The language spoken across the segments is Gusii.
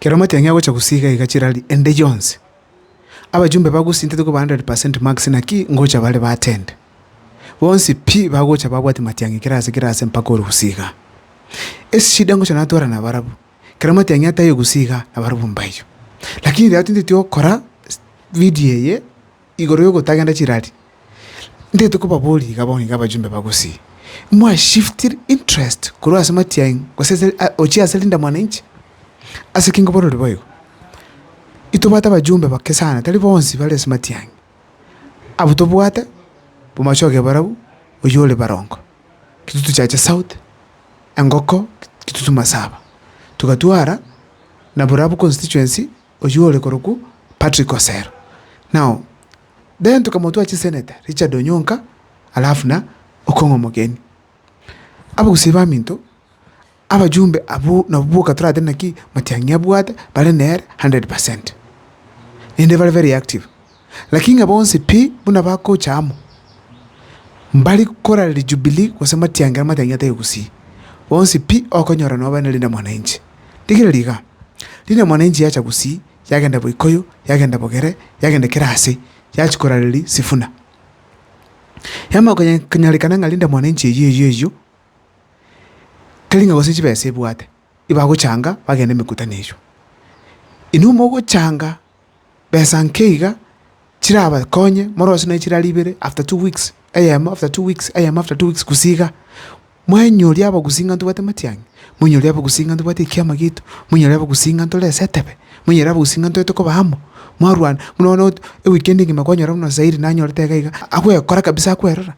Kera omatiang'i agocha gusii iga iga chirari ende yonsi, abajumbe bagusintete koba hundred per cent marks naki ngocha bare baatende. Bonsi pi bagocha babwati matiang'i kera ase kera ase mpaka ore gusii iga. Eshida ngocha natwara nabarabwo, kera omatiang'i atayo gusii iga nabarabwo mbaiyo. Lakini riago tinteti okora video eye. igoro y'ogotagenda chirari, ntagete kobaboria iga bono iga abajumbe ba Gusii, mwa shift interest korwa ase matiang'i gose ase gochia ase Linda Mwananchi? Ase ki nkobororigwe boigo? Intobwate abajumbe bake sana tari bonsi bare ase matiang'i. Abwo tobwate, omobacha oge barabwo oywo ore Barongo, Kitutu Chache South, Engoko, Kitutu Masaba. Togatwara na Borabu constituency oyio ore korokwo Patrick Osero. Nao then tokamotwara chisenator Richard Onyonka alafu na Okong'o Omogeni. Abagusii baminto, abajumbe abwo nabo boka toratebe naki Matiang'i abwate bare nere hundred percent. Naende bare very active. Lakini ng'a bonsi pi buna bagocha amo, mbare gokora Rijubilii gose matiangera amatiang'ia atarenge gusii, onsi pi okonyora nobaire na Rina-Mwananchi. Rigereria iga, Rina-Mwananchi yacha gusii, yagenda Boikoyo, yagenda Bogere, yagenda kera ase, yachia korareria Sifuna. Yamanya konya konyarekana ng'a Rina-Mwananchi eyio eyio eyio, teri ng'a gose chibesa ebwate, ibagochanga bagende emekutano eyio. Inwe mogochanga besa nke iga chirabakonye morose nonya chirari ibere after two weeks eyemo after two weeks eyemo after two weeks gusii iga, mwenyori abagusii ng'a ntobwate amatiang'i, mwenyori abagusii ng'a ntobwate ekiama giaito, mwenyori abagusii ng'a ntore ase etebe, mwenyori abagusii ng'a ntogete koba amo, mwarwana buna bono ewikendi engima kwanyora buna Zairi nanyorete iga iga, agwekora kabisa akwerora.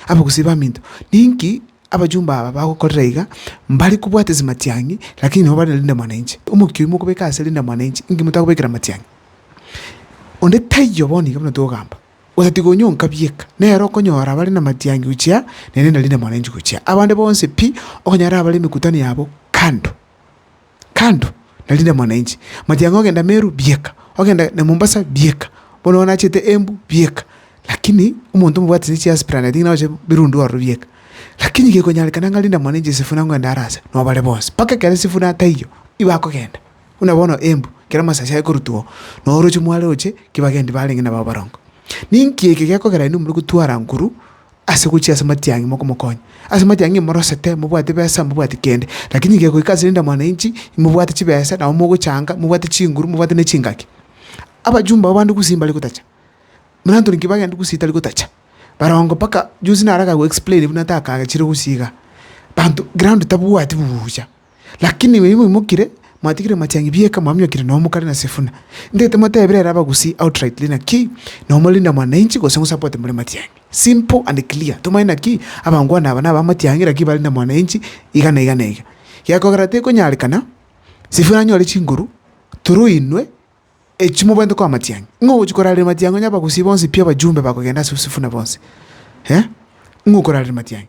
Abagusii baminto, ninki abachumba aba bagokorera iga? Mbare kobwate ase matiang'i, lakini nabo bare na rinde mwananchi. Omokia oyi mokobeka ase rinde mwananchi, inki motagobekera matiang'i? Onde taiyo bono iga buna togamba, otatiga onyonka bieka, nere okonyora bare na matiang'i gochia nere na rinde mwananchi gochia. Abande bonsi pi, okonyora bare na emekutano yabo kando. kando narinde mwananchi, matiang'a ogenda Meru bieka, ogenda na Mombasa bieka, bono bono nachete Embu bieka, lakini omonto omobwatete chiasi planet ng'ina oche birundu ororo bieka. Lakini gekonyarekana ng'a rinde mwananchi esifuna ng'ende are ase nobare bonsi, mpaka ekero esifuna taiyo, nigo akogenda, buna bono Embu ekero amasasi akorutwa oo, noo oroche mware oche, ki bagendi barenge nabo abarongo. Ninki eke gekogerania na omorwoti o Aranguru, ase gochia ase matiang'i mokomokonya. Ase matiang'i imorosete, mobwate besa, mobwate kende. Lakini gegoika ase rinde mwananchi, imobwate chibesa, nabo mogochanga, mobwate chinguru, mobwate ne chingaki. Abajumbe aba bande gusii mbare gotacha. Buna Anthony Kibaki aende gusii tari gotacha. Barongo mpaka juzi naro akagoexplain buna takagachire gusii iga. Banto ground tabwati buya. Lakini inywe moimokire, mwatigire amachang'e bieka, mwamiokire nonya omokare na Sifuna. Ntaete motebire ere abagusii outrightly naki nomorinda mwananchi gose ng'usapote more matiang'e. Simple and clear. Tomanye naki abangwana aba naba amatiang'e naki barinda mwananchi iga na iga na iga. Gekogera tekonyarekana Sifuna anyore chinguru through inwe echio mobwenerete koa amatiang'e. Ng'a ogochia korareria matiang'e onye abagusii bonsi pi abajumbe bakogenda ase Sifuna bonsi? Eeh? Ng'a okorareria matiang'e?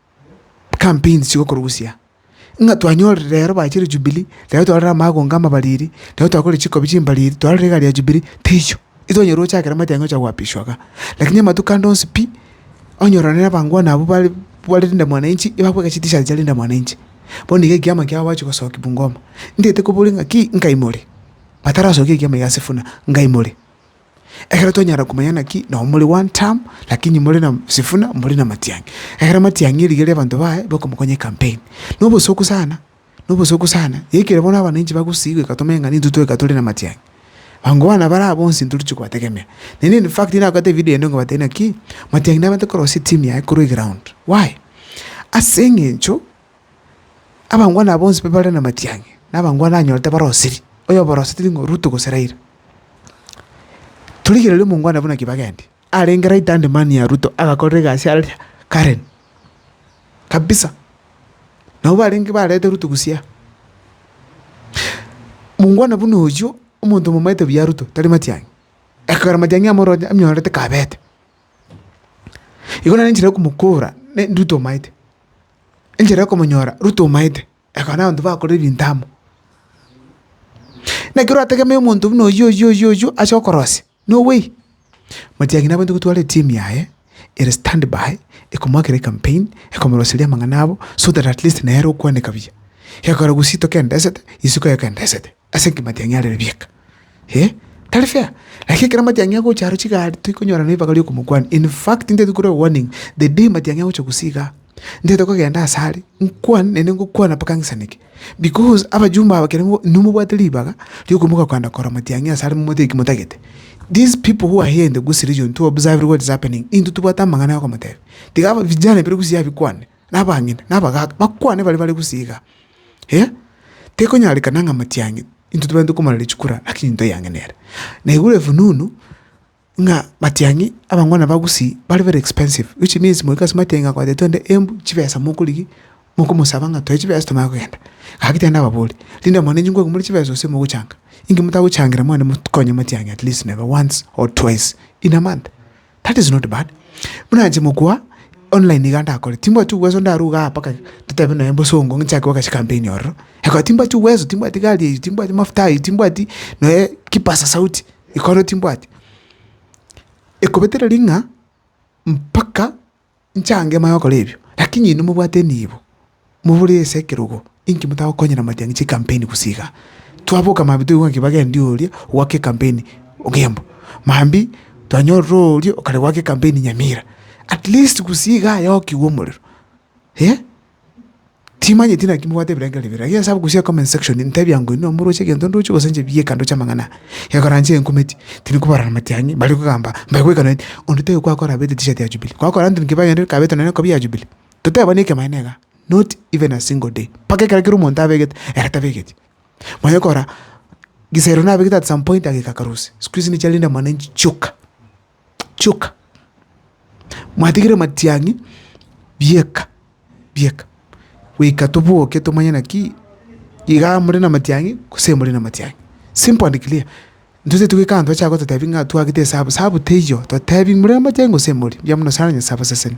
Campaigns chigokorusia, ng'a twanyorire rero bachire Jubilee, rero twarorire amagonga amabariri, rero twakore chikobi chimbariri, twarorire egari ya Jubilee, teicho. Itonyora ochakera omanyete aye ngocha goapishwa igaa. Lakini amatuko ande onsi pi, onyora nere abangwana abwo bare bare Linda Mwananchi, ebabweka chitishat chia Linda Mwananchi. Bono iga ekiama kiabo bachi gosoki Bungoma. Ntaete kobori ng'aki, nkai more? Batarasokia ekiama iga ase Sifuna, ngai more? Ekero twanyara komanya naki nao more one term, lakini more na Sifuna, more na Matiang'i. Ekero Matiang'i eriga ria abanto baye bakomokonya ecampaign. Na obosuku sana, na obosuku sana, yaikire bono abananchi bagusii goika tomenye ng'a nintwe twaika tore na Matiang'i. Abango bana baria bonsi ntoriche kobategemea. Naende in fact nagoteba evideo ende ngobatebia ng'a ki, Matiang'i nabate korosia etimu yaye korwa eground. Why? Aseng'encho Abangwana aba bonsi bare namatiang'e, na abangwana anyorete barosiri, oyoboroseti ning'o? Rutu gose Raila. Torigereria omongwana buna Kibagende, arenge right hand man ya Ruto, agakorera egasi are Karen, kabisa. Nabo barenge barete Ruto busia. Mongwana buna oyio, omonto omomaete buya Ruto, tari matiang'e. Ekero matiang'e amoroche, amyorete kabete. Igo nere enchera yokomokora, ne Ruto omaete. enchera y'okomonyora Ruto omaete, ekaba na abanto bakorire ebinto amo. Naki orategemee omonto buna oyio oyio oyio oyio ase okorosia, no way. Matiang'i naboiete gotwara etimu yaye ere stand by ekomoakera ekampeni, ekomoroseria amang'ana abo so that at least nere okwaneka buya. Ekero gose itoka endesete, isiko eke endesete. ase engima yatiang'i arere bieka. Eeh, tari fair. Lakini ekero matiang'i agocha aro chigari toikonyora nebibaga riokomokwania. In fact, ntaete kore warning, the day matiang'i agocha gose igaa, ntaete kogenda ase are, nkwane naende ngokwana mpaka ng'isaneke. Because abajumbe aba ekero nomobwate ribaga riokomoka kogenda korora matiang'i ase are momotebie ki motagete. These people who are here in the Gusii region to observe what is happening, intwe tobwate amang'ana ya okomotebia. Tiga aba vijana bire Gusii abikwane. na abang'ina, na abagaaka, bakwane baria bare gose iga, eh, Tekonyarekana ng'a matiang'e intwe tobare tokomoraria chikura, lakini ntoyang'enere. Na igure efununu ng'a matiang'i abangwana ba gusii bare very expensive, which means moika ase matiang'i akoete twende embu chibesa mokorigia ki? Mokomosaba ng'a toe chibesa tomanye kogenda. Gaki tende ababori, rinde mono inche ngwakumure chibesa gose mogochanga, inki motagochangera mwane mokonye matiang'i at least nebe once or twice in a month. That is not bad, buna inche mokwa online iga ndakore, timbwati uwezo ndarwe igaa mpaka totebe nonya bosongo ng'inchake goka chikampeni ororo, ekero timbwati uwezo, timbwati gari eywo, timbwati mafuta aywo, timbwati nonya kipasa sauti ekero timbwati, ekobetera ring'a mpaka. Nchange moe gokora ebio, lakini inwe mobwate enibo, mobore ase ekerogo, inki motagokonyera amatiang'i chikampeni gose iga? Twaboka mambia toigwe ng'a kibagendi oria ogwaka ekampeni Ogembo, mambia twanyorire oria okare gwaka ekampeni Nyamira, atleast gose iga yokigwe omorero eh. Timanyeti naki mobwate ebirengererio bibere. Erio nyasae agokusie comment section ntebia nko inwe moroche egento ndoche gose inche bieka ndoche amang'ana ya okorancha enkumeti tindi kobarana amatiang'i mbare kogamba mbare goikana eti onde taiyo kwakora abete etishati ya Jubilee. Kwakora nonye nkabe aye kabete nonye ekobe ya Jubilee. Totebani ekemaene igaa not even a single day mpaka ekero kera omonto abegete ere tabegeti. Manya okora gisero nabegete at some point ageka akarusia. Siku hizi nichiarinde mwananchi chioka. chioka, mwatigire matiang'i bieka bieka, goika toboke tomanye naki iga more namatiang'i gose more namatiang'i, simple and clear. Ntoseti goika abanto bache gototebi ng'a twagete esabu, esabu teiyo, totebi more namatiang'i gose more, mbuya mono sana Nyasae abaseseni.